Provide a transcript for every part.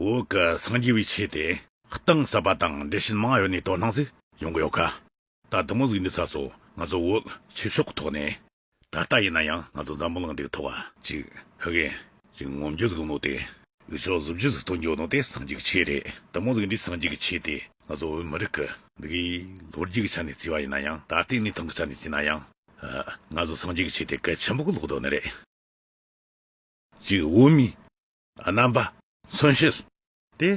འོག་གི་སངས་རྒྱས་པའི་ཆོས་དེ། གཏིང་ཟབ་པ་དང་འགྲེལ་ཆེན་མང་ཡོད་ནས་དོ་སྣང་ཟིག་ཡོང་གི་ཡོད་ཀ། ད་ལྟ་མོ་གཟིགས་འདི་ཚ་སོ་ང་ཚོ་འོད་ཆོས་ཕྱོགས་གི་ཐོག་ནས། ད་ལྟ་ཡིན་ན་ཡང་ང་ཚོ་འཛམ་བུ་གླིང་འདིའི་ཐོག་བ། ཅིག་ཧི་གེ། ཅིག་ངོམ་རྒྱུ་ཟིག་ནོ་དེ། འུ་ཅོག་གཟུགས་རྒྱུ་ཟིག་སྟོན་རྒྱུ་ནོ་དེ་སངས་རྒྱས་ཀྱི་ཆོས་རེད་ད་མོ་གཟིགས་འདི་སངས་རྒྱས་ཀྱི་ཆོས་དེ་ང་ཚོ་འོད་མི་རིགས་ཀྱི། འདི་གའི་ལོ་རྒྱུས་ཀྱི་ཆ་ནས་བརྩི་བ་ཡིན་ན་ཡང་ད་ལྟའི་གནས་སྟངས་ཀྱི་ཆ་ནས་བརྩིས་ན་ཡང། ང་ཚོ་སངས་རྒྱས་ཀྱི་ཆོས་དེ་གལ་ཆེན་པོ་གི་ལོག་རྡོ་ནི་རེད། ཅིག་དབུ་མའི། རྣམ་པ། མཚོན་བྱེད། ཏེ།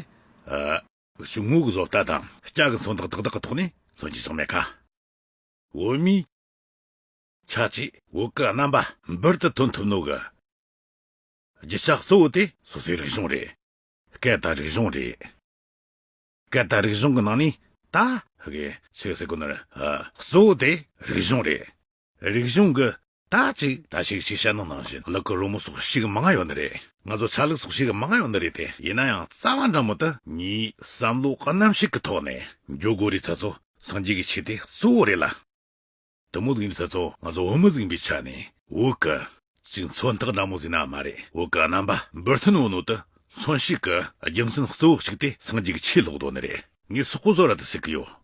ཆུང་ངུ་གྱི་བཟོ་ལྟ་དང། སྐྱ་གི་མཚོན་རྟགས་དག་དག་གི་ཐོག་ནས་མཚོན་བྱེད་ཚང་མས་ཁ། དབུ་མའི། ཁྱད་ཆོས། དབུ་གི་རྣམ་པ། འབུར་དུ་ཐོན་ཐུབ་ནུས། གྱི་རྒྱུ་ཆ་གཙོ་བོ་སྟེ། སོ་སོའི་རིག་གཞུང་རེད། སྐད་བརྡ་རིག་གཞུང་རེད། སྐད་བརྡ་རིག་གཞུང་གི་ནང་ནས་ད། གི་ཆོས་ཟེར་དགོས་ནི། གཙོ་བོ་སྟེ་རིག་གཞུང་རེད། རིག་གཞུང་གི། དག་ཅིག་ད་ཞིག་ཅིག་བཤད་ན་ནང་བཞིན་གླག་གི་རོལ་མོ་སོགས་ཤིག་མ་ང་ཡོད་ནི་རེད། ང་ཚོ་ཆ་ལུགས་སོགས་ཤིག་མ་ང་ཡོད་ནི་རེད་དེ། ཡིན་ན་ཡང་རྩ་བ་འདྲ་མོ་དུ། གཉིས་བསམ་བློ་རྣམ་ཤེས་ཀྱི་ཐོག་ནས་འཇོག་དགོས་རེད་ད་ཚོ་སངས་རྒྱས་ཀྱི་ཆེད་དེ་གཙོ་བོ་རེད་ལ། དུ་མོ་ཟིག་ནི་ད་ཚོ་ང་ཚོ་བོད་མི་ཟིག་ཡིན་པའི་ཆ་ནས་འོ་ཀི། ཅིག་མཚོན་རྟགས་འདྲ་མོ་ཟིག་ན་མ་རེད་འོ་ཀི་རྣམ་པ་འབུར་ཐོན་བོ་ནོ་དུ་མཚོན་ཤིག་གི་རྒྱུ་མཚན་གཙོ་བོ་ཞིག་དེ་སངས་རྒྱས་ཀྱི་ཆེད་ལོག་དོ་ནི་རེད་ངས་སོག་པོ་བཟོ་ར་དུ་ཟེར་གི་ཡོད།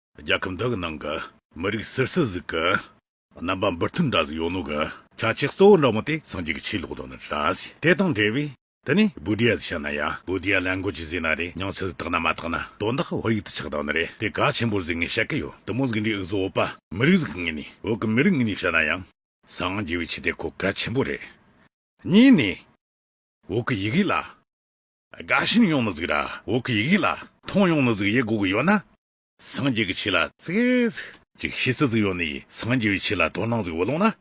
རྒྱལ་ཁབ་འདི་གི་ནང་གི་མི་རིགས་སིར་སི་ཟིག་གི་རྣམ་པ་འབུར་ཐོན་འདྲ་ཟིག་ཡོད་ནོ་གི། ཆ་ཆེ་གཙོ་བོ་འདྲ་མོ་དེ་སངས་རྒྱས་ཀྱི་ཆོས་ལོག་དོན་ནི་འདྲ་ཟིག་དེ་དང་འབྲེལ་བས་དེ་ནི་བུ་དྷི་ཡ་ཟིག་བཤད་ན་ཡ་བུ་དྷི་ཡ་ལན་གོ་ཅི་ཟིག་ན་རེ་ཉང་ཆི་ཟིག་དག་ན་མ་དག་ན་དོན་དག་བོད་ཡིག་ཏུ་ཆགས་དག་ནི་རེ་དེ་ག་ཆེན་པོར་ཟིག་ངས་བཤད་ཀི་ཡོད་དུ་མོ་ཟིག་འདྲའི་ཨིག་ཟོ་བོད་པ་མི་རིགས་ཟིག་གི་ངས་ནི་བོད་ཀྱི་མི་རིགས་ངས་ནི་བཤད་ན་ཡང། སངས་རྒྱས་བའི་ཆོས་དེ་གོ་གལ་ཆེན་པོ་རེད། གཉིས་ནི། བོད་ཀྱི་ཡིག་ཡིག་ལ། དགའ་ཞིང་ཡོང་ནི་གཟིགས་ར་འོག་གི་ཡིག་ཡིག་ལ། མཐོང་ཡོང་ནི་གཟིགས་ཡིག་སྒོ་གི་ཡོ་ན། སངས་རྒྱས་ཀྱི་ཆོས་ལ་གཟིགས། ཅིག་ཤེས་སི་གཟིགས་ཡོ་ནི་སངས་རྒྱས་པའི་ཆོས་ལ་དོ་སྣང་གཟིགས་འོ་ལོང་ན།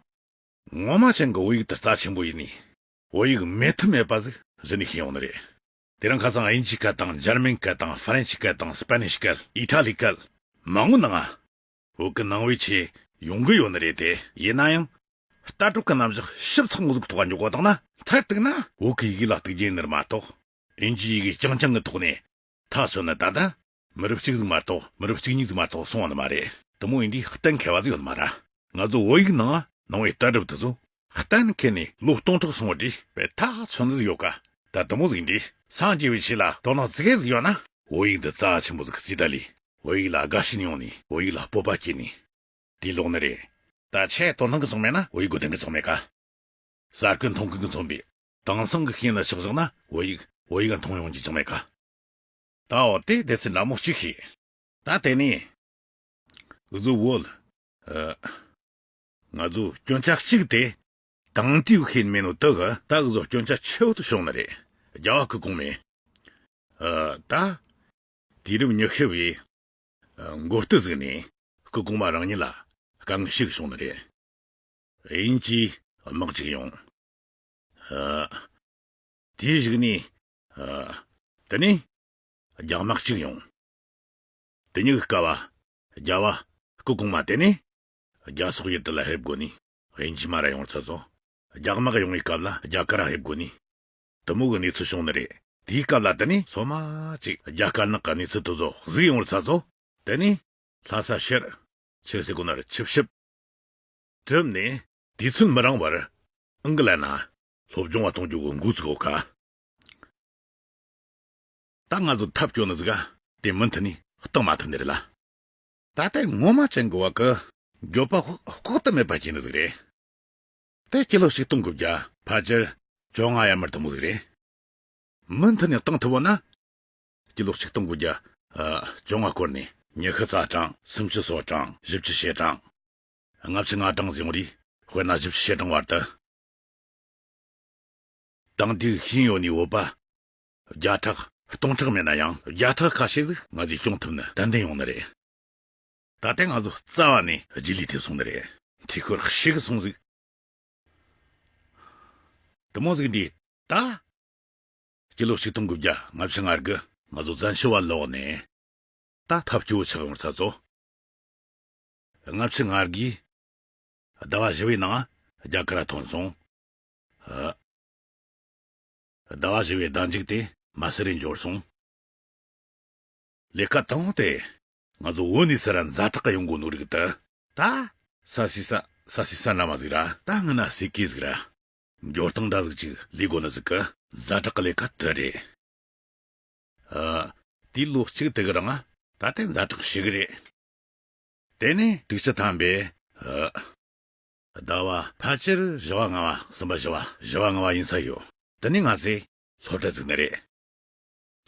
ངོ་མ་ཅན་གི་འོ་ཡིག་དུ་རྩ་ཆེན་པོ་ཡིན་ནི། འོ་ཡིག་མེད་ཐུ་མེད་པ་གཟིགས་གཟིགས་ནི་ཤེས་ཡོང་ནི་རེད། དེ་རིང་ཁ་སང་ཨིན་ཇི་སྐད་དང་འཇར་མན་སྐད་དང་ཧྥ་རན་སི་སྐད་དང་སི་པ་ནི་ཤི་སྐད་ཨི་ཐ་ལི་སྐད། མང་ངོ་ནི་ང། འུ་གི་སྣང་བའི་ཆེད་ཡོང་གི་ཡོད་ནི་རེད་དེ། ཡིན་ན་ཡང། ལྟ་གྲུབ་ཀྱི་རྣམ་གཞག་ཞིབ་ཚགས་ངོ་གཟུགས་ཐོག་འཇོག་པ་དང་ན། མཐར་གཏུགས་ན། འུ་གི་ཡི་གེ་ལ་གཏུགས་རྒྱུའི་ནི་མ་གཏོགས། ཨིན་ཇིའི་ཡི་གེ་རྐྱང་རྐྱང་གི་ཐོག་ནས། ཐག་གཅོད་ནི་ད་ལྟ། མི་རབས་གཅིག་ཟིག་མ་གཏོགས་མི་རབས་གཅིག་གཉིས་ཟིག་མ་གཏོགས་སོང་བ་ནི་མ་རེད། དུ་མ་ཡིན་དུས་གཏན་འཁེལ་བ་ཟིག་ཡོད་ནི་མ་རེད། ང་ཚོ་བོད་ཡིག་ནང་སྣང་བའི་ལྟ་གྲུབ་དེ་ཚོ། གཏན་འཁེལ་ནས་ལོ་སྟོང་ཕྲག་སོང་བ་འདྲི་བའི་ཐག་མཚོན་ནི་ཡོད་ག་ད་དུ་མོ་གཟིགས་འདྲི་སངས་རྒྱས་པའི་ཆེད་ལ་དོ་ནག་ཙི་གེ་གཟིགས་ཡོད་ན། བོད་ཡིག་འདི་རྩ་ཆེན་པོ་ཟིག་ཙི་ད་ལི་བོད་ཡིག་ལ་དགའ་ཞེན་ཡོང་ནས་བོད་ཡིག་ལ་སྤོབས་པ་སྐྱེས་ནས། དེ་ལོག་ནི་རེད། ད་ཆད་དོ་སྣང་གི་ཚོགས་མེད་ན་བོད་ཡིག་གོ་དོན་གི་ཚོགས་མེད་ག། གསར་སྐུ་མཐོང་མཁན་གི་ཚོགས་མེད། དེང་སང་གི་ཤེས་ན་ཆགས་བཞག་ན་བོད་ཡིག་བོད་ཡིག་མཐོང་ཡོང་རྒྱུ་ཅང་མེད་ག། ད་འོ་དེ་དེ་ཚེ་ན་མོ་གཅིག་ཤེས། ད་དེ་ནས། བཟོ་བོ། ང་ཚོ་སྐྱོན་ཆ་གཅིག་དེ། དང་ཏུའུ་ཁེན་མེན་ནོ་དག། ད་གཟོད་སྐྱོན་ཆ་ཆེའུ་དུ་ཤོང་ན་རེད། རྒྱ་བ་ཁུ་གུང་མེ། ཨ། ད། དུས་རབས་ཉི་ཤུ་བའི། མགོ་སྟོད་གཟིགས་ནས། ཁུ་གུང་མ་རང་ཉིད་ལ། དཀའ་ངལ་ཞིག་བྱུང་ན་རེད། དབྱིན་ཇིའི་དམག་ཅིག་ཡོང། ཨ། དེ་གཞིགས་ནས། ཨ། དེ་ནས། རྒྱ་དམག་ཅིག་ཡོང། དེ་ཉིད་དཀའ་བ། རྒྱ་བ་ཁུ་གུང་མ་དེ་ནས། རྒྱ་སོག་ཡུལ་དུ་ལ་ཧེབ་དགོ་ནི། དབྱིན་ཇི་མ་ར་ཡོང་ཚ་ཚོ། རྒྱ་དམག་ཡོང་བའི་སྐབས་ལ་རྒྱ་དཀར་ཧེབ་དགོ་ནི། དུ་མོ་གི་གནས་ཚུལ་བྱུང་ནི་རེད། དེའི་སྐབས་ལ་དེ་ནི་ཚོ་མ་ཅིག་རྒྱ་དཀར་ནག་གི་གནས་ཚུལ་དུ་བཟོ་གཟིགས་ཡོང་བར་ཚ་ཚོ། དེ་ནི། ལྷ་ས་ཤེར། ཆེ་སི་གོ་ན་རུ་ཆིབས་ཞིབ། གྲུབ་ནས། དུས་ཚོད་མི་རང་བར། ཨང་ཀི་ལ་ན། སློབ་སྦྱོང་བ་གཏོང་རྒྱུ་གི་འགུགས་ཚུགས་ཨོ་ཀ། ད་ང་ཚོ་ཐབས་སྐྱོ་ནི་ཟིག་ཨ། དེ་མུན་ཐི་ནི། སྟག་མ་ཐི་ནི་རེད་ལ། ད་ལྟའི་ངོ་མ་ཅན་གོ་བ་གི། འགྱོད་པ་དཔག་ཏུ་མེད་པ་སྐྱེ་ནི་ཟིག་རེད། དེ་སྐྱེ་ལོ་ཞིག་སྟོང་གི་བརྒྱ། ཕ་སྤྱིར་བཅོ་ལྔ་ཡར་མར་ཐུབ་མོ་ཟིག་རེད། མུ་མཐུད་ནས་བཏང་ཐུབ་བོ་ན། སྐྱེ་ལོ་ཞིག་སྟོང་གི་བརྒྱ། བཅོ་ལྔ་སྐོར་ནས། ཉི་ཤུ་རྩ་གྲངས་སུམ་བཅུ་སོ་གྲངས་བཞི་བཅུ་ཞེ་གྲངས། ལྔ་བཅུ་ལྔ་གྲངས་བཟུང་རིགས་དཔེར་ན་བཞི་བཅུ་ཞེ་གྲངས་བར་དུ། དང་དུས་ཤིང་ཡོད་ནས་འོད་པ། བརྒྱ་ཕྲག་སྟོང་ཕྲག་མེད་ན་ཡང་བརྒྱ་ཕྲག་ཁ་ཤས་ཟིག་ང་ཚོས་སྐྱོང་ཐུབ་ན་དད་ལྡན་ཡོང་ནི་རེད། ད་ལྟའི་ང་ཚོ་རྩ་བ་ནས་རྗེས་ལུས་ཐེབས་སོང་ནི་རེད། ཐིག་ཤོར་ཤིག་གི་སོང་ཟིག། དུ་མོ་ཟིག་འདིས་ད། སྤྱི་ལོ་ཆིག་སྟོང་དགུ་བརྒྱ་ལྔ་བཅུ་ལྔར་གི་ང་ཚོ་བཙན་བྱོལ་བ་ལོག་ནས། ད་ཐབས་སྐྱོ་ཆགས་ཡོང་ཚར་ཚོ། ལྔ་བཅུ་ལྔར་གི། ཟླ་བ་བཞི་བའི་ནང་རྒྱ་གར་ཐོན་སོང། ཨ། ཟླ་བ་བཞི་བའི་ཟླ་མཇུག་དེ་མ་སི་རི་འབྱོར་སོང། ལས་ཀ་དང་པོ་དེ། ང་ཚོ་འོད་ནི་སི་ར་མཛའ་གྲགས་ཀ་ཡོང་གོ་ནོ་རིག་ཏི། ད། ས་སི་ས་ས་སི་ས་ན་མ་ཟིག་ར། ད་ང་ན་སི་ཀི་ཟིག་ར། འབྱོར་སྟངས་འདྲ་ཟིག་ཅིག་ལི་གོ་ནི་ཟིག་གི། མཛའ་གྲགས་ཀ་ལས་ཀ་དི་རེད། ཨ། དེའི་ལོ་གཅིག་དི་གི་རང་ཨ། ད་ལྟའི་མཛའ་གྲགས་ཤི་གི་རེད། དེ་ནས་དྲུག་ཅི་ཐམ་པའི་ཨ། ཟླ་བ། ཕལ་ཆེར་བཞི་བ་ལྔ་བ་གསུམ་པ་བཞི་བ་བཞི་བ་ལྔ་བ་ཡིན་ས་ཡོད། འདི་ནི་ང་ཚེ། སློབ་གྲྭ་བརྩིགས་ན་རེད།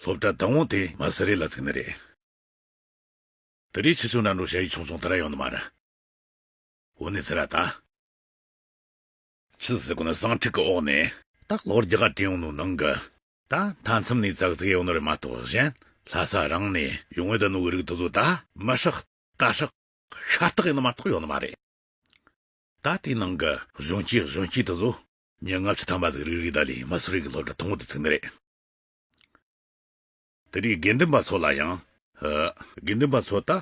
སློབ་གྲྭ་བདག་དབང་དེ་མ་ཟི་རི་ལ་བརྩིགས་ན་རེད། དེ་རིགས་ཆེ་ཆུང་རྣམས་འགྲོ་ཞལ་ཡིག་ཆུང་ཆུང་དེ་འདྲ་ཡོང་ནི་མ་རེད། འོ་ནི་ཟེར་ར་ད། ཕྱི་ཟེར་དགོས་ན་བཟང་ཕྲུག་གི་འོག་ནས། སྟག་ལོར་རྒྱ་གར་དྲན་ཡོང་ནུ་ནང་གི། ད་མཐའ་མཚམས་ནས་ཙག་ཙིག་ཡོང་ནི་རེད་མ་གཏོགས་གཞན། ལྷ་ས་རང་ནས་ཡོང་ངེས་དོན་ནུ་བོའི་རིགས་དེ་ཚོ་ད། མི་ཧྲག། ད་ཧྲག། ཤ་སྟག་ཡིན་ནི་མ་གཏོགས་ཡོང་ནི་མ་རེད། ད་ལྟའི་ནང་གི་གཞོན་སྐྱེས་གཞོན་སྐྱེས་དེ་ཚོ། ཉིན་ལྔ་བཅུ་ཐམ་པ་ཟིག་རིག་རིག་དག་ལས་མི་སུ་རིག་གི་སློབ་གྲྭ་དང་པོ་དེ་ཚུགས་ནི་རེད། དེ་རིང་དགེ་འདུན་པ་ཚོ་ལ་ཡང། དགེ་འདུན་པ་ཚོ་ད།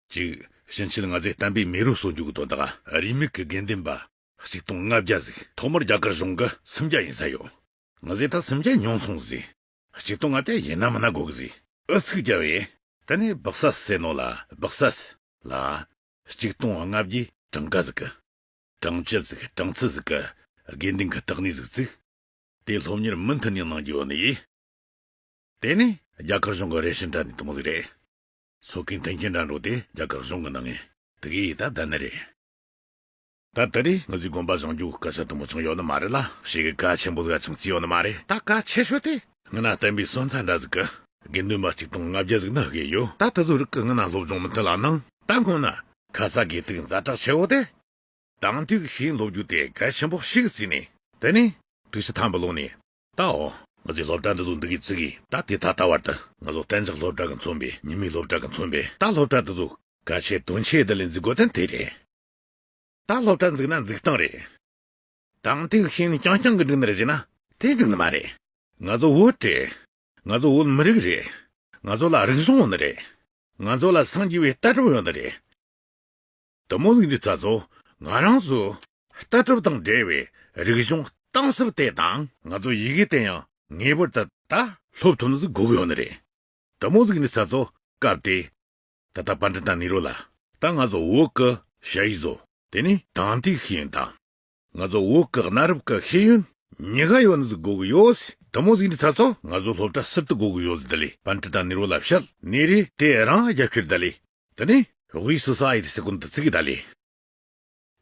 ཅིག། ཕྱིན་ཆད་ང་ཚོའི་བསྟན་པའི་མི་རུ་སོ་འཇུག་གི་དོན་དག་རིས་མེད་གི་དགེ་འདུན་པ། གཅིག་སྟོང་ལྔ་བརྒྱ་ཟིག་ཐོག་མར་རྒྱ་གར་གཞུང་གི་སུམ་བརྒྱ་ཡིན་ས་ཡོད། ང་ཚོས་ད་སུམ་བརྒྱ་མྱོང་སོང་ཟིག། གཅིག་སྟོང་ལྔ་བརྒྱ་ཡིན་ནམ་མིན་ན་དགོས་གི་ཟིག། ཨུ་ཚུགས་བརྒྱབ་ཡས། དེ་ནས་སྦག་ས་སེ་ནོ་ལ་སྦག་ས། ལ། གཅིག་སྟོང་ལྔ་བརྒྱའི། གྲངས་ཀ་གཟིགས། གྲངས་བཅད་གཟིགས་གྲངས་ཚད་གཟིགས། དགེ་འདུན་གྱི་རྟགས་གནས་གཟིགས་ཚིག། དེ་སློབ་གཉེར་མུ་མཐུད་ནས་གནང་རྒྱུ་ཡིན། དེ་ནི་རྒྱ་གར་གཞུང་གི་རེ་ཞིག་འདྲ་ནི་སྟོང་ཟིག་རེད། ཚོགས་ཀྱི་མཐུན་རྐྱེན་འདྲ་འགྲོགས་དེ་རྒྱ་གར་གཞུང་གི་གནང་ངེས། དགེ་ཡི་རྟགས་འདི་ནི་རེད། ད་ལྟ་རེ་ང་ཚོའི་དགོན་པ་བཟང་རྒྱུ་སྐད་ཆ་དུམ་བུ་ཆུང་ཡོད་ནི་མ་རེད་ལ་ཞིག་གི་སྐད་ཆེན་པོ་འགའ་ཆང་རྩི་ཡོད་ནི་མ་རེད་ད་སྐད་ཆེ་ཤོས་དེ་ང་ན་བསྟན་པའི་སོན་རྩ་འདྲ་ཟིག་གི། དགེ་འདུན་པ་གཅིག་དང་ལྔ་བརྒྱ་ཟིག་ན་དགེ་ཡོད་ད་ད་གཟོད་རིགས་ཀྱི་ང་ན་སློབ་སྦྱོང་མི་མཐུན་ལ་ནང་ད་སྔོན་ན་ཁ་ས་དགེ་ཐུག་མཛའ་གྲགས་ཆེ་བོ་དེ། དང་ཐུག་ཤིང་སློབ་རྒྱུ་དེ་གལ་ཆེན་པོ་ཞིག་རྩི་ནས་དེ་ནས་ཐུག་ཤི་ཐང་པོ་ལོག་ནས་ད་འོ་ང་ཚོའི་སློབ་གྲྭ་འདི་ཚོ་འདི་གས་རྩི་གིས་ད་དེ་ད་ལྟ་བར་དུ་ང་ཚོ་གཏན་འཇགས་སློབ་གྲྭ་གི་མཚོན་པའི་ཉི་མའི་སློབ་གྲྭ་གི་མཚོན་པའི་ད་སློབ་གྲྭ་འདི་ཚོ་གལ་ཆེ་དོན་ཆེ་དེ་ལས་འཛི་དགོས་དོན་དེ་རེད། ད་སློབ་གྲྭ་འཛུགས་ན་འཛུགས་སྟངས་རེད། དང་ཐུག་ཤིང་རྐྱང་རྐྱང་གི་སྒྲུང་འདིར་གཞིགས་ན། དེ་སྒྲུང་ནི་མ་རེད། ང་ཚོ་བོད་རེད། ང་ཚོ་བོད་མི་རིགས་རེད། ང་ཚོ་ལ་རིག་གཞུང་ཡོད་ནི་རེད། ང་ཚོ་ལ་སངས་རྒྱས་པའི་ལྟ་གྲུབ་ཡོད་ནི་རེད། དུ་མོ་ལུག་འདི་ཙ་ཚོ་ང་རང་ཚོའི་ལྟ་གྲུབ་དང་འབྲེལ་བའི་རིག་གཞུང་གཏིང་ཟབ་དེ་དང། ང་ཚོ་ཡི་གེ་དེ་ཡང་ངེས་པར་དུ་ད་སློབ་ཐུབ་ན་གུག་ཡོད་ནི་རེད། དུ་མོ་ལུག་འདི་ཙ་ཚོ་སྐབས་དེའི་ད་ལྟ་པཱ་འདྲི་དང་ནི་རོ་ལ། ད་ང་ཛོ་ཝོ་ཀ་ཤ་ཡི་ཛོ། དེ་ནི་དང་ཏི་ཤི་ཡོན་དང། ང་ཛོ་ཝོ་ཀ་གནའ་རབས་ཀ་ཤེ་ཡོན། ཉི་ག་ཡོ་ནི་ཟི་གོ་གི་ཡོ་སི་དུ་མོ་ཟིག་འདི་ཚ་ཚོ་ང་ཛོ་ལྷོ་བྲ་སི་ཏི་གོ་གི་ཡོ་ཟི་དི་ལི་པཱ་འདྲི་དང་ནི་རོ་ལ་བཤལ་ནི་རི་དེ་རང་རྒྱ་ཁྱེར་དི་ལི་དི་ནི་དབུས་སུ་ས་ཡི་དི་སི་ཀུན་དི་ཚི་གི་དི་ལི་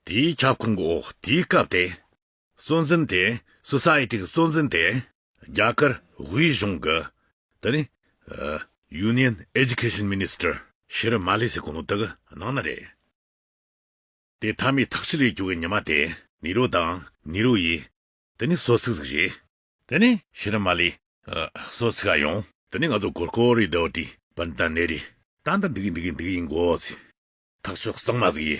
དེའི་ཁྱབ་ཁོངས་ཀྱི་འོག་དེའི་སྐབས་དེ། གཙོ་འཛིན་དེ། Society། གི་གཙོ་འཛིན་དེ། རྒྱ་གར། དབུས་གཞུང་གི། དེ་ནི། Union། Education Minister། ཤི་རུ་མ་ལི་སི་གོང་བུ་དག་གནང་ན་རེད། དེ་མཐའ་མའི་ཐག་གཅོད་ལས་བྱུང་བའི་ཉི་མ་དེ། ནི་རོ་དང། ནི་རོ་ཡི། དེ་ནི་སོ་ཚིགས་གཟུགས་གཞི། དེ་ནི་ཤི་རུ་མ་ལི། སོ་ཚིགས་ཨ་ཡོང། དེ་ནི་ང་ཚོ་གོར་ཀོ་རི་དོ་ཏི། པན་ཏན་ནེ་རི། ཏན་ཏན་འདི་གི་འདི་གི་འདི་གི་འགོ་བ་ཚི། ཐག་གཅོད་གཙང་མ་གཟུགས་གཞི།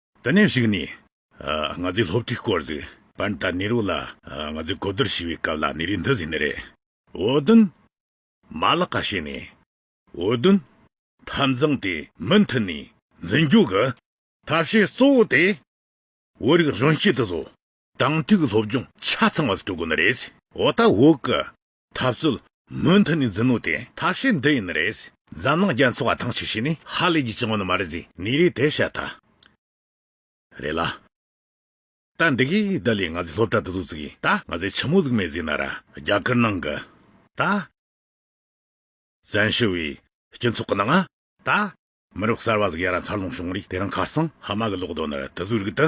ད་ནས་ཞིག་ནས། ང་ཚོའི་སློབ་ཁྲིད་སྐོར་གཟིགས། པར་ད་ནི་རུ་ལ། ང་ཚོས་གོ་བསྡུར་བྱས་པའི་སྐབས་ལ་ནི་རིགས་འདི་ཟེར་ནི་རེད། འོ་དོན། མ་ལག་ཁ་ཤས་ནས། འོ་དོན། འཐབ་འཛིང་དེ་མུ་མཐུད་ནས་འཛིན་རྒྱུ་གི། ཐབས་ཤེས་གཙོ་བོ་དེ། བོད་རིགས་གཞོན་སྐྱེས་དེ་ཚོ། དང་ཐུག་སློབ་སྦྱོང་ཆ་ཚང་བ་ཞིག་སྤྲོད་དགོས་ནི་རེད། འོ་ད་འོག་གི། འཐབ་རྩོད། མུ་མཐུད་ནས་འཛིན་ནོ་དེ། ཐབས་ཤེས་འདི་ཡིན་ནི་རེད། འཛམ་གླིང་རྒྱ་མཚོ་བ་ཐང་ཆེ་ཤོས་ནི་ཧ་ལས་ཀྱི་སྤྱི་བོ་ནི་མ་རེད་ཟེར་ནི་རེད་དེ་བཤད་ཐ་རེད་ལ། ད་འདི་གིས་བདག་ལས་ང་ཚོས་སློབ་གྲྭ་འདི་ཚོ་བཙུགས་ཡིན་ད་ང་ཚོས་ཆུ་མོ་བཙུགས་མེད་ཟེར་ན་ར་རྒྱ་སྐར་ནང་གི་ད། བཙན་བྱོལ་བའི་སྤྱི་ཚོགས་ཀྱི་ནང་ད། མི་རབས་གསར་བ་ཟིག་ཡར་ར་འཚར་ལོངས་བྱུང་རིགས་དེ་རང་ཁ་སང་ཧ་མ་གི་ལོག་རྡོ་ནི་ར་དི་ཚོའི་རིགས་དི།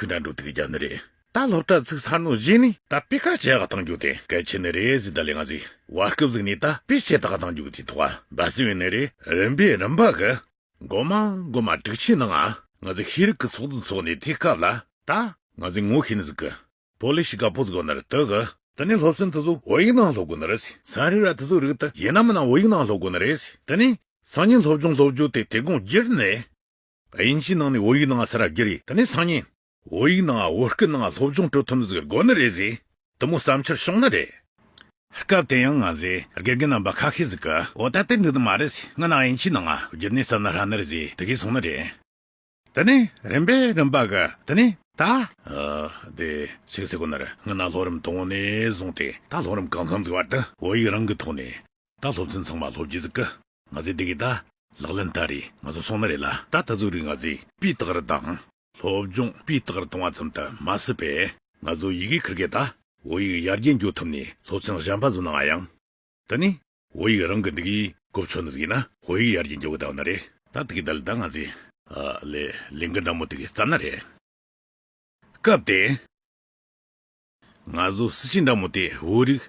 ཧི་ན་འགྲོ་དེ་གི་རྒྱ་ནི་རེད། ད་སློབ་གྲྭ་ཚིག་ཚར་ནོ་བཞིན་ནི་ད་དཔེ་ཁ་ཆེ་ག་དང་རྒྱུག་དེ་གལ་ཆེ་ནི་རེད་ཟིན་ད་ལེ་ང་ཚི་བར་སྐབས་ཚིག་ནི་ད་དཔེ་ཆེ་ད་ག་དང་རྒྱུག་དེ་ཐུག་ག་འབའ་ཚི་བས་ནི་རེད་རིམ་པས་རིམ་པ་གི། མགོ་མ་མགོ་མ་དྲུག་ཆིན་ནང་ང་ཚི་ཤེས་རིག་གི་ཚོགས་འདུ་འཚོགས་ནི་དེ་སྐབས་ལ། ད་ང་ཚི་ངོ་ཤེས་ནི་ཟིག་གི། བོ་ལི་ཤི་ག་པོ་ཚི་གོ་ནི་རེད་དུག་གི། ད་ནི་སློབ་ཚན་དི་ཚུ་བོ་ཡིག་ནང་སློབ་དགོས་ནི་རེད་ཟི་སང་རི་ར་དི་ཚུ་རིག་དི་ཡེ་ན་མི་ནང་བོ་ཡིག་ནང་སློབ་དགོས་ནི་རེད་ཟི་ད་ནི་སང་ཉིན་སློབ་སྦྱོང་སློབ་བྱུ་དེ་དེ་དགོངས་གྱིར་ནི། དབྱིན་ཇིའི་ནང་ནས་བོད་ཡིག་ནང་ང་ས་ར་དགེ་རེད་ད་ནས་སང་ཉིན། བོད་ཡིག་ནང་ང་བོད་སྐད་ནང་ང་སློབ་སྦྱོང་སྤྲོད་ཐུབ་མཛད་དགོས་ནི་རེད་ཟེར། དུ་མོ་བསམ་འཆར་བྱུང་ན་རེད། སྐབས་དེ་ཡང་ང་ཟེར་དགེ་རྒན་རྣམ་པ་ཁ་ཤས་ཟིག་གིས་འོ་ད་དེ་འདི་ནི་མ་རེད་ཟེར་ང་ནི་དབྱིན་ཇིའི་ནང་ང་བསྒྱུར་ནས་བསམ་ན་ཧྲ་ནི་རེད་ཟེར་དེ་གས་སོང་ན་རེད། དེ་ནས་རིམ་པས་རིམ་པ་གི་དེ་ནས་ད། དེ་ཕྱིས་ཟེར་དགོས་ན་རེད་ང་ནི་ལྷོ་རིམ་དང་བོ་ནས་བཟུང་སྟེ་ད་ལྷོ་རིམ་གང་འཚམས་ཟིག་བར་དུ་བོད་ཡིག་རང་གི་ཐོག་ནས། ད་སློབ་ཚན་ཚང་མ་སློབ་རྒྱུ་ཟིག་གི། ང་ཚོའི་དེ་གའི་ད། ལག་ལེན་ད་རེད་ང་ཚོ་སོང་ན་རེད་ལ། ད་ད་གཟུགས་རིས་ང་ཚོས་སྤུས་རྟགས་རེ་དང། སློབ་སྦྱོང་སྤུས་རྟགས་རེ་གཏོང་བ་ཙམ་དུ་མ་ཟད་པས། ང་ཚོ་ཡི་གེ་ཁུར་མཁན་ད། བོད་ཡིག་ཡར་རྒྱས་འགྱུར་ཐུབ་ནས་སློབ་ཚན་གཞན་པ་བཟོ་ནའང་ཡང། ད་ནི། བོད་ཡིག་རང་གི་འདི་གའི་གོ་ཕྱོགས་ནས་ཟིག་ཡིན་ན། བོད་ཡིག་ཡར་རྒྱས་འགྱུར་བ་ད་འོ་ན་རེད། ད་དེ་གའི་ད་ལས་ད་ང་ཚོས། ཨ། ལས། ལས་འགུལ་ཟླ་མོ་དེ་གའི་རྩ་ན་རེད། སྐབས་དེ། ང་ཚོ་སྲིད་སྤྱི་འདྲ་མོ་དེས་བོད་རིགས།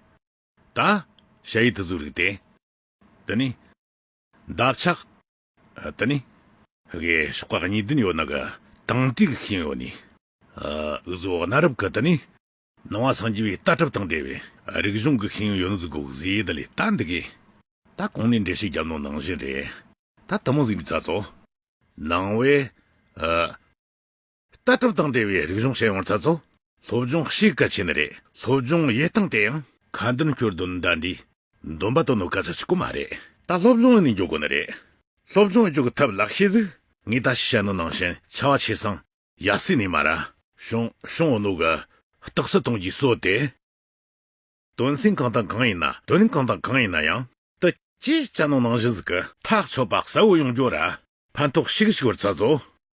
ད། ཞལ་ཡི་དུ་གཟུགས་རིགས་ཏེ། དེ་ནི། འདབ་ཆགས། དེ་ནི། གི་ཤོག་ཁག་གཉིས་བདུན་ཡོད་ན་གི། དང་ཏིག་གི་ཤིང་ཡོད་ནི། འུ་གཟུགས་གནའ་རབས་ཀྱི་དེ་ནི། སྣང་བ་སངས་རྒྱས་པའི་ལྟ་གྲུབ་དང་འབྲེལ་བའི། རིག་གཞུང་གི་ཤིང་ཡོད་ནི་གཟུགས་གོག་ཟས་དེ་ལས་ད་འདི་གི། ད་གོང་ནས་འགྲེལ་བཤད་རྒྱབ་ནང་ནང་བཞིན་རེད། ད་ཐུན་མོང་གཟུགས་འདི་རྩ་གཙོ། སྣང་བའི། ལྟ་གྲུབ་དང་འབྲེལ་བའི་རིག་གཞུང་ཤེས་ཡོང་ཚར་ཚོ། སློབ་སྦྱོང་གཤིས་ཀ་ཆེ་ནི་རེད་སློབ་སྦྱོང་དབྱེ་སྟངས་དེ་ཡང། ཁ་འདོན་སྐྱོར་འདོན་འདྲ་འདྲའི། འདོན་པ་དོ་ནུབ་ག་ཚད་ཅིག་གོ་མ་རེད། ད་སློབ་སྦྱོང་ནི་འཇུག་གོ་ནི་རེད། སློབ་སྦྱོང་འཇུག་ཐབས་ལག་ཤེས་གཟིགས། ངས་ད་ཤི་ཤ་ནུ་ནང་བཞིན་ཆ་བ་ཆེ་སང། ཡ་སི་ནི་མ་ར། ཤོང་ཤོང་འོ་ནུ་ག། རྟགས་སུ་དོན་གྱིས་སོ་དེ། དོན་སེང་གང་དང་གང་ཡིན་ན་དོན་གང་དང་གང་ཡིན་ན་ཡང། དུ། ཅེས་ཅ་ནུ་ནང་བཞིན་གཟིགས། ཐག་ཆོད་པ་གསལ་བོ་ཡོང་རྒྱུ་ར། ཕན་ཐོགས་ཤིག་ཤིག་བར་ཚར་ཚོ།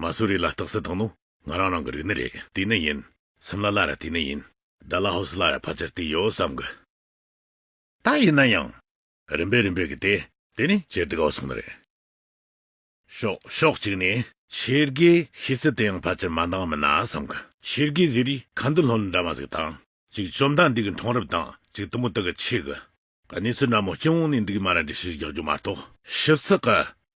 མ་སུ་རི་ལ་རྟགས་གསལ་བཏང་ནོ། ང་རང་རང་གི་རིགས་ནི་རེད། དེ་ནི་ཡིན། སིམ་ལ་ལ་ར་དེ་ནི་ཡིན། དཱ་ལ་ཧོ་སི་ལ་ར་ཕལ་ཆེར་དེ་ཡོད་བསམ་གི། ད་ཡིན་ན་ཡང། རིམ་པས་རིམ་པས་གི་དེ། དེ་ནི་ཇེར་དི་གའོ་སོང་ནི་རེད། ཤོག་ཤོག་ཅིག་ནི། ཆེར་གི་ཤི་ཚི་དེ་ཡང་ཕལ་ཆེར་མ་འདང་མི་ན་བསམ་གི། ཆེར་གི་ཟི་རི་ག་འདི་ལྷོ་ལི་འདྲ་མ་ཟིག་དང། ཅིག་བཅོམ་མདང་འདི་གི་མཐོང་རབས་དང་ཅིག་དུམ་བུ་དག་གི་ཆེ་གི། ག་གནས་ཚུལ་འདྲ་མོ་སྐྱིད་འོང་ནི་འདུག་མ་ར་འདྲི་ཤིག་རྒྱག་རྒྱུ་མ་གཏོགས། ཞིབ་ཚགས་གི།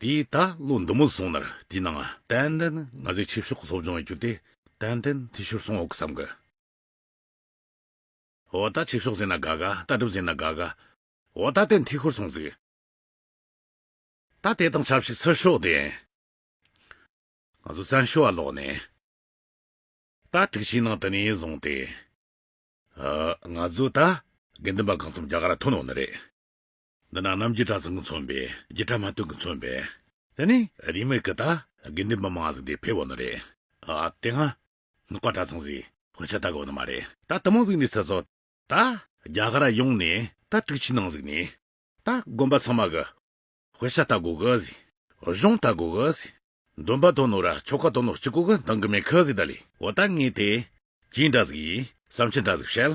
དེས་ད་ལོ་འདི་མོ་སོང་ནར་དེས་ན་ང། ཏན་ཏན་ང་ཚོའི་ཆོས་ཕྱོགས་གི་སློབ་སྦྱོང་ཡིན་རྒྱུ་དེ། ཏན་ཏན་དེ་ཤོར་སོང་འོག་གི་བསམ་གི། འོ་ད་ཆོས་ཕྱོགས་ཟེར་ན་དགའ་དགའ་ད་སྒྲུབ་ཟེར་ན་དགའ་དགའ། འོ་ད་ཏན་དེ་ཤོར་སོང་ཟིག། ད་དེ་དང་ཆབས་ཅིག་ཚུར་ཤོག་དེ། ང་ཚོ་བཙན་བྱོལ་བ་ལོག་ནས། ད་དྲུག་ཕྱིའི་ནང་དུ་ནས་བཟུང་སྟེ། ང་ཚོ་ད། དགེ་འདུན་པ་གང་འཚམས་རྒྱ་གར་ཐོན་འོང་ནི་རེད། འདི་ན་ནམ་རྒྱུད་གྲྭ་ཚང་གི་མཚོན་པའི་རྒྱུད་གྲྭ་མ་སྟོན་གི་མཚོན་པའི། དེ་ནི་རིས་མེད་ཀི་ད། དགེ་འདུན་པ་མང་བ་ཟིག་དེ་ཕེ་བོ་ནི་རེད། ཨ་ཨ་དེ་སྔ། ནུ་ཀ་གྲྭ་ཚང་ཟིག་དཔེ་ཆ་ད་གོ་ནི་མ་རེད། ད་དུ་མང་ཟིག་ནི་ཟེར་སོ། ད། རྒྱ་གར་ཡོང་ནི་ད་དྲུག་ཕྱི་ནང་ཟིག་ནི། ད་དགོན་པ་ཚང་མ་གི། དཔེ་ཆ་ད་གོ་གི་ཟིག། གཞུང་ད་གོ་གི་ཟིག། འདོན་པ་དོ་ནོ་ར་ཆོ་ག་དོ་ནོ་སྤྱི་གོ་གི་འདང་གི་མེད་གི་ཟིག་ད་ལི། འོ་ད་ངས་དེ། གྱིས་འདྲ་ཟིག་ཡིས་བསམ་ཕྱིར་འདྲ་ཟིག་བཤད།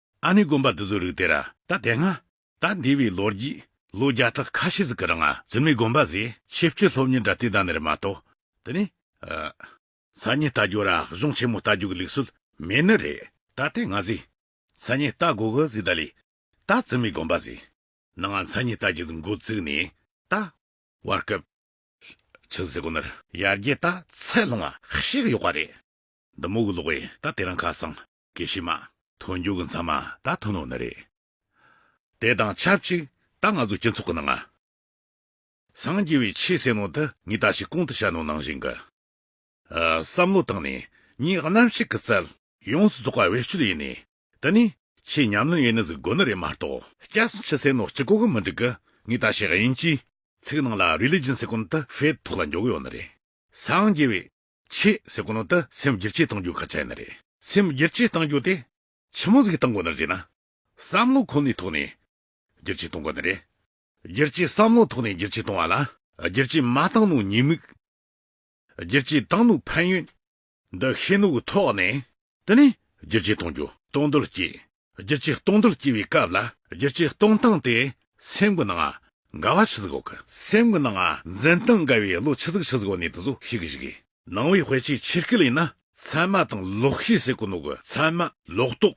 ཨ་ནི་དགོན་པ་འདི་ཚོའི་རིགས་དེ་ར། ད་དེ་སྔ། ད་འདས་པའི་ལོ་རྒྱུས། ལོ་བརྒྱ་ཕྲག་ཁ་ཤས་ཟིག་གི་རིང་ཨ་ཛི་མའི་དགོན་པ་ཟེ་ཆེ་བསྐྱོད་སློབ་གཉེར་འདྲ་དེ་དང་ནེར་མ་གཏོགས། དེ་ནི། ཨ། ས་གཉིས་རྟ་རྒྱུག་ར་གཞུང་ཆེན་མོ་རྟ་རྒྱུག་གི་ལུགས་སྲོལ་མེད་ནི་རེད། ད་དེ་སྔ་ཟེ། ས་གཉིས་རྟ་དགོ་གི་ཟེ་ད་ལི། ད་ཛི་མའི་དགོན་པ་ཟེ། ན་ང་ས་གཉིས་རྟ་གྱི་ཟིག་འགོ་བཙུགས་ནས་ད། བར་སྐབས། ཆུ་ཟེ་གོ་ནེར། ཡར་རྒྱས་ད་ཚད་ལྷུང་བ་ཤེས་གི་ཡོག་པ་རེད། འདི་མོ་གི་ལོག་བས་ད་དེ་རིང་ཁ་སང། དགེ་བཤེས་མ། མཐོ་མཇུག་གི་མཚམས་མ་ད་ཐོན་ནོ་ན་རེ། དེ་དང་ཆབས་ཅིག་ད་ང་ཚོ་སྤྱི་ཚོགས་ཀྱི་ནང་ང། སངས་རྒྱས་བའི་ཆེས་གསལ་ནོ་ད་ངས་ད་ཞིག་གོང་དུ་བཤད་ནོ་ནང་བཞིན་གྱི། བསམ་བློ་བཏང་ནས་ངས་རྣམ་བཤད་ཀྱི་རྩལ། ཡོངས་སུ་རྫོགས་པ་བེད་སྤྱོད་ཡེ་ནས་དེ་ནི། ཆེས་ཉམས་ལེན་ཡེ་ནས་གཟིགས་དགོས་ནི་རེད་མ་གཏོགས། སྐྱ་སེར་ཕྱི་གསལ་ནོ་སྤྱི་གོ་གི་མི་འགྲིག་གི་ངས་ད་ཞིག་དབྱིན་ཇིའི། ཚིག་ནང་ལ Religion སེ་གོན་ད་ཕེད་ཐོག་ལ་འཇོག་གི་ཡོད་ནི་རེད། སངས་རྒྱས་བའི། ཆེས་ཟད་གོ་ནོ་དུ་སེམས་བསྒྱུར་བཅོས་གཏང་རྒྱུ་ག་ཚད་ན་རེད། སེམས་བསྒྱུར་བཅོས་གཏང་རྒྱུ་དེ་ཕྱི་མོ་ཟིག་གཏང་གོ་ནར་བྱེད་ན། བསམ་བློ་ཁོ་ནའི་ཐོག་ནས་བསྒྱུར་བཅོས་གཏང་གོ་ནི་རེད། བསྒྱུར་བཅོས་བསམ་བློ་ཐོག་ནས་བསྒྱུར་བཅོས་གཏང་བ་ལ། བསྒྱུར་བཅོས་མ་གཏང་ནོ་ཉེས་དམིགས། བསྒྱུར་བཅོས་གཏང་ནོ་ཕན་ཡོན། འདུ་ཤེས་ནོ་གི་ཐོག་ནས། དེ་ནས་བསྒྱུར་བཅོས་གཏང་རྒྱུ། གཏོང་འདོད་སྐྱེས། བསྒྱུར་བྱའི་སྟོང་དུ་སྐྱེ་བའི་སྐབས་ལ། བསྒྱུར་བྱའི་སྟོང་སྟངས་དེ་སེམས་ཀྱི་ནང་དགའ་བ་ཆུ་ཟིག་འོག་གི། སེམས་ཀྱི་ནང་འཛིན་སྟངས་དགའ་བའི་བློ་ཆུ་ཟིག་ཆུ་ཟིག་འོག་ནས་དུ་ཟོ་ཤེས་ཀྱི་ཞིག། ནང་བའི་དཔེ་ཆའི་ཕྱིར་སྐད་ལས་ན། ཚད་མ་དང་ལོག་ཤེས་ཟེར་གོ་ནོ་གི་ཚད་མ། ལོག་རྟོག།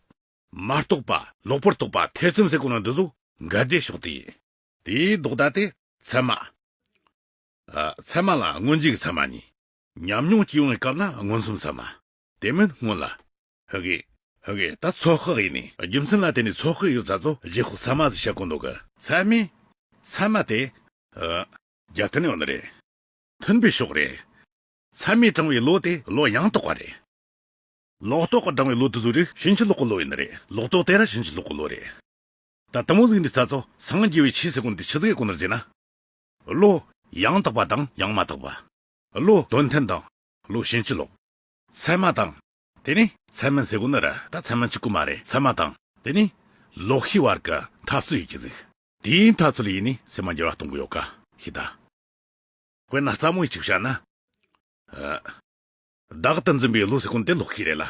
མ་རྟོགས་པ། ལོག་པར་རྟོག་པ་ཐེ་ཚོམ་ཟེར་གོ་ནོ་འདི་ཟོ་འགའ་བདེ་ཕྱོགས་དེ་ཡིན། དེའི་ལྡོག་ཟླ་དེ་ཚད་མ། ཚད་མ་ལ་མངོན་རྗེས་ཀྱི་ཚད་མ་གཉིས། ཉམས་མྱོང་སྐྱེ་བའི་སྐབས་ལ་མངོན་སུམ་ཚད་མ། དེ་མིན་སྔོན་ལ། ཧཱུྃ། ཧཱུྃ། ད་ཚོགས་ཁག་ཡིན། རྒྱུ་མཚན་ལ་བརྟེན་ནས་ཚོགས་ཁག་ཡོད་ས་ཚོ་རྗེ་ཧཱུྃ་ཚད་མ་ཟེར་བྱ་གོ་འདུག་གི། ཚད་མའི། ཚད་མ་དེ། ཧཱུྃ། རྒྱ་མཐུན་ཡོང་ནི་རེད། མཐུན་པའི་ཕྱོགས་རེད། ཚད་མའི་གྲངས་བའི་ལོ་དེ་ལོ་ཡང་དག་པ་རེད། ལོག་རྟོག་གི་གྲངས་བའི་ལོ་དེ་ཚོ་རིགས་བྱིན་གྱིས་རློག་གི་ལོ་ཡིན་ནི་རེད། ལོག་རྟོག་དེ་ར་བྱིན་གྱིས་རློག་གི་ལོ་རེད། ད་དུམ་བུ་གཟིགས་ནས་ས་ཚོ་སངས་རྒྱས་བའི་ཆའི་སེ་ཀུན་ཏེ་ཆུ་ཚོད་ཀྱི་སྐོར་ནས་བརྗེས་ན། ལོ། ཡང་དག་པ་དང་ཡང་མ་དག་པ། ཀླུ་དོན་ཐེམས་དང། ཀླུ་ཤིང་སྤྱི་ལོག། ཚད་མ་དང། དེ་ནི་ཚད་མ་ཟེར་དགོས་ནི་ར་ད་ཚད་མ་གཅིག་པུ་མ་རེད་ཚད་མ་དང། དེ་ནི་ལོག་ཤི་བར་གི་འཐབ་རྩོད་ཡིན་གྱི་གཟིགས། དེའི་འཐབ་རྩོད་ལ་ཡིན་ནི་ཚད་མ་འགྱུར་བ་གཏོང་གི་ཡོད་ག་ཤི་ད། དཔེར་ན་རྩ་མོ་ཡི་ཆིག་བྱ་ན། བདག་ཏུ་འཛིན་པའི་ཀླུ་ཟེར་ཀུན་དེ་ལོག་ཤི་རེད་ལ།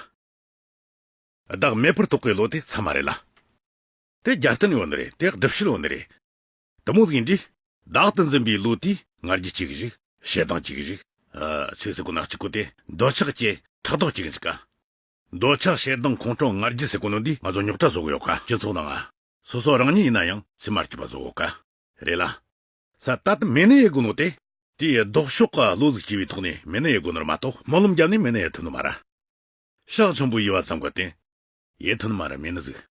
བདག་མེད་པར་རྟོགས་པའི་ཀླུ་དེ་ཚད་མ་རེད་ལ། དེ་རྒྱབ་རྟེན་ཡོད་ནི་རེད་དེ་སྒྲུབ་བྱེད་ཡོད་ནི་རེད། དུམ་བུ་ལྷིང་འདྲིས། བདག་ཏུ་འཛིན་པའི་བློ་དེས་ངར་གྱི་གཅིག་གཞིག། ཞེ་སྡང་གཅིག་གཞིག། ཚིགས་སུ་བར་ནག་གཅིག་གོ་སྟེ། འདོད་ཆགས་སྐྱེ། ཕྲག་དོག་གཅིག་འཇིག། འདོད་ཆགས་ཞེ་སྡང་ཁོང་ཁྲོ་ངར་གྱི་ཟས་གོ་ནོར་འདིས་ང་ཚོ་རྙོག་དྲ་བཟོ་གི་ཡོད་ཀ་སྤྱི་ཚོགས་ནང། སོ་སོ་རང་ཉིད་ཡིན་ན་ཡང་ཚིག་མར་གྱིས་པ་བཟོ་འོ་ཀ། རེད་ལ། ས་རྟག་ཏུ་མེ་ནི་ཡའི་གོ་ནོར་ཏེ། དེའི་ལྡོག་ཕྱོགས་ཀ་བློ་གཟུགས་སྐྱེ་བའི་ཐོག་ནས་མེ་ནི་ཡའི་གོ་ནོར་མ་གཏོགས་སྨོན་ལམ་རྒྱབ་ནས་མེ་ནི་ཡའི་ཐུན་ནོར་མ་ར། ཤག་ཆེན་པོའི་དབྱེ་བ་ཙམ་གོ་སྟེ། ཡའི་ཐུན་ནོར་མ་ར་མེ་ནི་གཟུགས།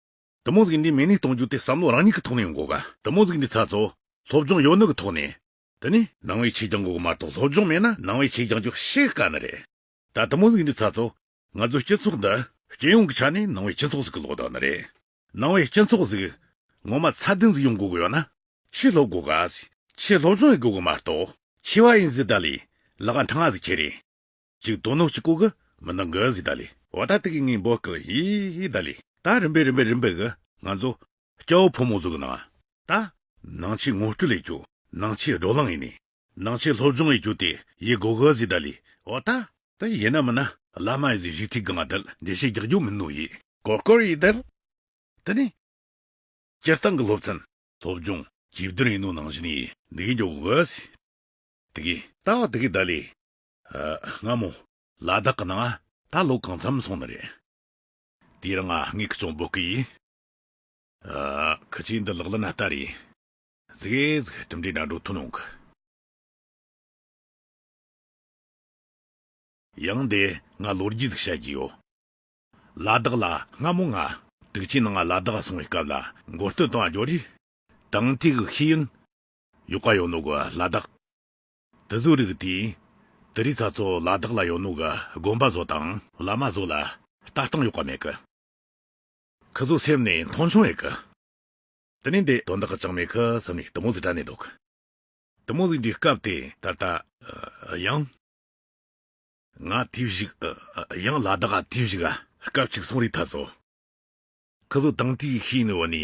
དུ་མོ་གཟུགས་འདི་མེ་ནས་གཏོང་རྒྱུ་དེ་བསམ་བློ་རང་ཉིད་ཀྱི་ཐོག་ནས་འགོག་ག། དུ་མོ་གཟུགས་འདི་ཚ་ཚོ། སློབ་སྦྱོང་ཡོད་ནི་གི་ཐོག་ནས། དེ་ནི་ནང་བའི་ཆེད་ཀྱང་འགོག་གི་མ་གཏོགས་སློབ་སྦྱོང་མེད་ན་ནང་བའི་ཆེད་ཀྱང་ཀྱང་བཤད་དཀའ་ནི་རེད། ད་དུ་མོ་གཟུགས་འདི་ཚ་ཚོ། ང་ཚོའི་སྤྱི་ཚོགས་འདི། སྤྱི་ཡོངས་ཀྱི་ཆ་ནས་ནང་བའི་སྤྱི་ཚོགས་ཟིག་གི་ལོག་ད་ནི་རེད། ནང་བའི་སྤྱི་ཚོགས་ཟིག། ངོ་མ་ཚ་དེ་ཟིག་ཡོང་དགོས་གི་ཡོད་ན། ཆེད་སློབ་དགོས་ག། ཆེད་སློབ་སྦྱོང་ཡི་དགོས་གི་མ་གཏོགས། ཆེ་བ་ཡིན་ཟིག་ད་ལས། ལག་ག་འཕྲང་ང་ཟིག་ཁྱེད་རེད། ཅིག་དོ་ནོག་ཅིག་ཀོ་གི། མི་མདང་གི་ཟིག་ད་ལི། བ་ད་ཏི་གི་ངའི་འབོ་ཀི་ཧི་ཧི་ད་ལི། ད་རིམ་པས་རིམ་པས་རིམ་པས་གི། ང་ཚོ། སྐྱ་བོ་ཕོ་མོ་ཚོ་གི་ནང། ད། ནང་ཆེས་ངོ་སྤྲོད་ལས་ཀྱོ། ནང་ཆེས་སྒྲོག་ལང་ཡིན་ནི། ནང་ཆེས་སློབ་སྦྱོང་ཡི་ཀྱོ་ཏི་ཡི་གོ་གི་ཟིག་ད་ལི། བ་ད། ད་ཡེ་ན་མི་ན། བླ་མ་ཡི་ཟིག་ཞིག་ཐིག་གི་ང་དལ་འདི་ཤེས་རྒྱག་རྒྱུ་མིན་ནོ་ཡི། གོར་གོར་ཡི་དལ། ད་ནི། སྤྱིར་བཏང་གི་སློབ་ཚན། སློབ་སྦྱོང། གྱི་བསྡུར་ཡིན་ནོ་ནང་བཞིན་ཡི་འདི་གི་འགྱོ་གི་ཟིག། ཏི་གི། ད་བ་ཏི་གི་ད་ལི། སྔ་མོ། ལ་དྭགས་ཀྱི་ནང་ཨ། ད་ལོ་གང་འཚམས་སོང་ནི་རེད། དེ་རིང་ང་ངའི་ཁུ་ཚུར་འབོད་ཀི་ཡིན། ཨ། ཁུ་ཚུར་འདི་ལག་ལེན་ན་ལྟ་རེད། ཟིག་ཨེ་ཟིག་གྲུབ་འབྲས་འདྲ་འགྲོ་ཐུབ་ནོ་གི། ཡང་འདི་ང་ལོ་རྒྱུས་ཟིག་བཤད་ཀྱི་ཡོད། ལ་དྭགས་ལ་སྔ་མོ་ང། དུག་ཆེན་ནང་ཨ་ལ་དྭགས་སོང་བའི་སྐབས་ལ་མགོ་སྟོད་དང་ཨ་ཇོ་རེད། དང་ཐིག་གི་ཤེས་ཡོན། ཡོད་ཀ་ཡོད་ནོ་གི་ལ་དྭགས། དུ་གཟུགས་རིག་སྟེ། དུ་རིག་ཚ་ཚོ་ལ་བདག་ལ་ཡོད་ནོ་གི་སྒོམ་པ་བཟོ་དང། བླ་མ་བཟོ་ལ་ལྟ་སྟངས་ཡོད་པ་མེད་གི། ཁི་བཟོ་སེམས་ནས་མཐོང་ཆུང་ཡོད་གི། དུ་ནི་འདི་དོན་དག་ཅང་མེད་གི་བསམ་ནས་དུ་མོ་གཟིགས་དྲན་ནས་འདུག་གི། དུ་མོ་གཟིགས་འདྲའི་སྐབས་དེ་ད་ལྟ། ཡང། ང་དུས་བཞུགས། ཡང་ལ་བདག་དུས་བཞུགས། སྐབས་གཅིག་སོང་རིག་ཐ་ཚོ། ཁི་བཟོ་དང་དུས་ཤིག་ནི་འོ་ནི།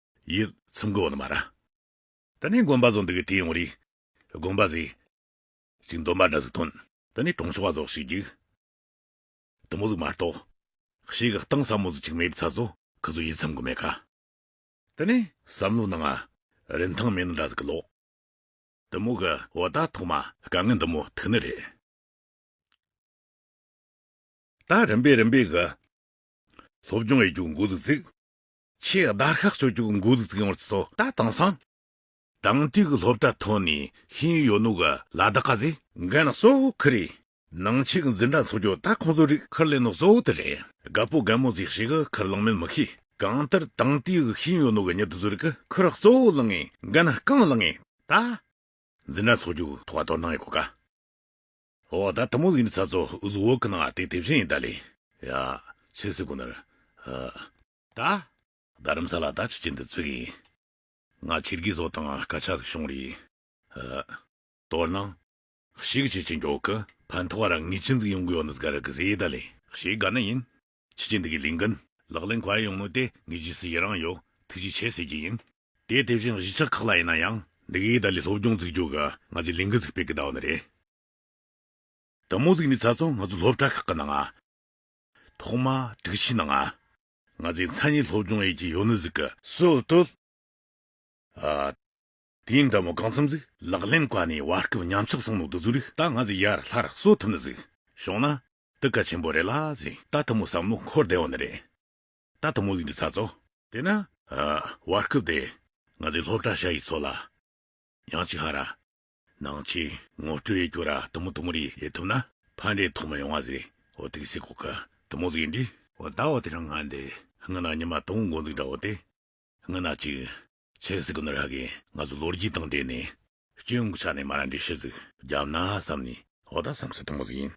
ཡིད་ཚིམ་གོ་ནི་མ་ར། ད་ནི་དགོན་པ་རྫོགས་འདི་གི་དེ་ཡོང་རིགས། དགོན་པ་ཟིག། ཅིག་འདོན་པ་འདྲ་ཟིག་ཐོན། ད་ནི་གྲོང་ཆོག་བ་རྫོགས་ཤིག་ཅིག། དུ་མོ་ཟིག་མ་རྟོགས། ཤེས་གི་སྟངས་ཟབ་མོ་ཟིག་ཅིག་མེད་པའི་ཚ་ཚོ་གི་ཚོ་ཡིད་ཚིམ་གི་མེད་ག། ད་ནི་བསམ་བློ་གནང་ཨ། རིན་ཐང་མེད་ནི་འདྲ་ཟིག་གི་ལོག། དུ་མོ་གི་འོ་ད་ཐོག་མ་དཀའ་ངལ་འདི་མོ་ཐུག་ནི་རེད། ད་རིམ་པས་རིམ་པས་གི། སློབ་སྦྱོང་ཡི་རྒྱུགས་འགོ་ཟིག་ཚིག། ཆེས་བརྡར་ཤ་གཅོད་རྒྱུ་མགོ་ལུག་ཙིག་ཡོང་བར་བརྩི་ཏོ་ད་དེང་སང། དང་དུས་ཀྱི་སློབ་གྲྭ་ཐོན་ནས་ཤེས་ཡོད་ནུ་ག་ལ་བདག་ག་ཟེ། འགན་གཙོ་བོ་ཁི་རེད། ནང་ཆེས་འཛིན་གྲྭ་འཚོགས་རྒྱུ་ད་ཁོང་ཚོའི་རིགས་ཁིར་ལས་ནུ་གཙོ་བོ་དེ་རེད། དགའ་པོ་དགའ་མོ་ཟིག་ཤེས་གི་ཁིར་ལང་མིན་མི་ཤེས། གང་ལྟར་དང་དུས་ཀྱི་ཤེས་ཡོད་ནུ་ག་ཉིད་དུ་ཟུར་གི་ཁིར་གཙོ་བོ་ལང་ངེས་འགན་རྐང་ལང་ངེས་ད། འཛིན་གྲྭ་འཚོགས་རྒྱུ་ཐོག་ག་དོར་སྣང་ཡོད་གོ་ག། ཨོ་ད་ཐུན་མོང་གཟུགས་ནི་ཚ་ཚོ་གཟུགས་འོག་གི་ནང་ཨ་སྟེ་དེ་བཞིན་ཡིན་ད་ལེ། ཡ། ཕྱི་སི་ཀུ་ནར། ཨཱ། ད། རྡ་རམ་ས་ལ་ད་ཕྱི་ཅི་འདི་ཚུགས་ཡིན། ང་ཕྱི་དགེ་བཟོ་དང་སྐ་ཆ་ཟིག་བྱུང་རེད། ཨཱ། དོ་སྣང། ཤིག་ཅི་ཅི་མགྱོགས་ཀི་ཕན་ཐོག་ར་ངི་ཅི་འཛིག་ཡོང་གི་ཡོ་ནི་ཟིག་ག་ར་གི་ཟེ་ཡི་ད་ལེ། ཤིག་ག་ནི་ཡིན། ཕྱི་ཆེན་འདི་གི་ལིང་གན། ལག་ལེན་གོ་ཨེ་ཡོང་མོད་དེ་ངས་ཇི་སྲིད་ཡི་རངས་ཡོད་ཐུགས་རྗེ་ཆེ་ཟེར་གྱི་ཡིན། དེ་དེ་བཞིན་གཞིས་ཆགས་ཁག་ལ་ཡིན་ན་ཡང། འདི་གའི་ཏཱ་ལའི་སློབ་སྦྱོང་བཙུགས་རྒྱུ་ག་ང་ཚོའི་ལིང་གན་ཚུགས་པའི་གི་ཟླ་བ་ནི་རེད། ད་མོ་གཟིགས་ནས་ཚ་ཚོང་ང་ཚོའི་སློབ་གྲྭ་ཁག་གི་ནང་ཨ། ཐོག་མ་དྲུག་ཕྱི་ནང་ཨ། ང་ཚོའི་མཚན་ཉིད་སློབ་སྦྱོང་ཨེ་ཅི་ཡོད་ནི་གཟིགས་གི། སུ་བཏུལ། ཨ། དེའི་མདའ་མོ་གང་འཚམ་གཟིགས། ལག་ལེན་བཀའ་ནི་བར་སྐབས་ཉམས་ཆག་གསང་ལུགས་འདི་ཚུར་རིག། ད་ང་ཚོས་ཡར་ལྷར་གསོ་ཐུབ་ན་གཟིགས། ཞོག་ན། འདི་བཀའ་ཆེན་པོ་རེད་ལ་གཟིགས། ད་ད་མོ་བསམ་བློ་འཁོར་བདེ་བ་ནི་རེད། ད་ད་མོ་གླིང་གི་ཚ་ཚོ། དེས་ན། བར་སྐབས་དེ། ང་ཚོའི་སློབ་གྲྭ་ཤག་ཡི་ཚོ་ལ། ཡང་ཅི་ཧ་ར། ནང་ཆེ། ངོ་སྤྲོད་ཡི་གྱོ་ར་ད་མོ་ད་མོ་རིག་ཡི་ཐུབ་ན། ཕ་འདྲེ་ཐོག་མ་ཡོང་བ་གཟིགས། འོ་དིག་སི་གོ་ཁ། ད་མོ་གཟིགས་འདྲི། འོ་ད་འོ་དེ་རང་ང་འདི། ང་ན་ཉི་མ་ད་འོ་འགོ་འཛིགས་འདྲ་འོ་དེ། ངུ་ན་ཅིག། ཚེ་སྲིག་གི་ནོར་ཧ་གི་ང་ཚོ་ལོ་རྒྱུས་དང་འབྲེལ་ནས། སྐྱོན་གྱི་ཆ་ནས་མ་རང་གི་ཤི་ཟིག། རྒྱབ་ན་བསམ་ནས་འོ་ད་བསམ་ཚུལ་དང་པོ་ཟིག་ཡིན།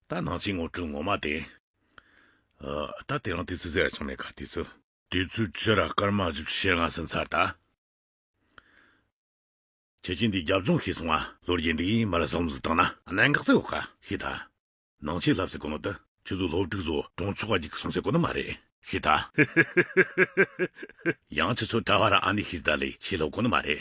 ད་ནང་ཆེན་ངོ་སྤྲོད་ངོ་མ་དེ། ད་དེ་རང་དུས་ཚོད་ཟེར་ར་ཆང་མེད་ཁ་དུས་ཚོད། དུས་ཚོད་ཕྱི་ར་སྐར་མ་བཞི་བཅུ་ཤེར་སྔ་ཟིན་ཚར་ད། ཁྱེད་ཀྱིས་འདི་རྒྱབ་ལྗོངས་ཤེས་སོང་ང། ལོ་རྒྱུས་འདི་གིས་མི་ལ་བསམ་བློ་བཏང་ན། གནད་འགག་ཚིག་འོག་ཁ་ཤེས་ད། ནང་ཆེས་ལབ་ཟེར་དགོས་ན་ད་ཁྱོད་ཚོ་སློབ་ཕྲུག་ཚོ་གྲོངས་ཆོག་པ་ཅིག་གསུང་ཟེར་དགོས་ན་མ་རེད། ཤི་ད། ཡང་ཁྱོད་ཚོ་གྲྭ་བ་ར་ཨ་ནི་ཤི་ཟེར་ད་ལས་ཆེས་ལྷག་དགོས་ན་མ་རེད།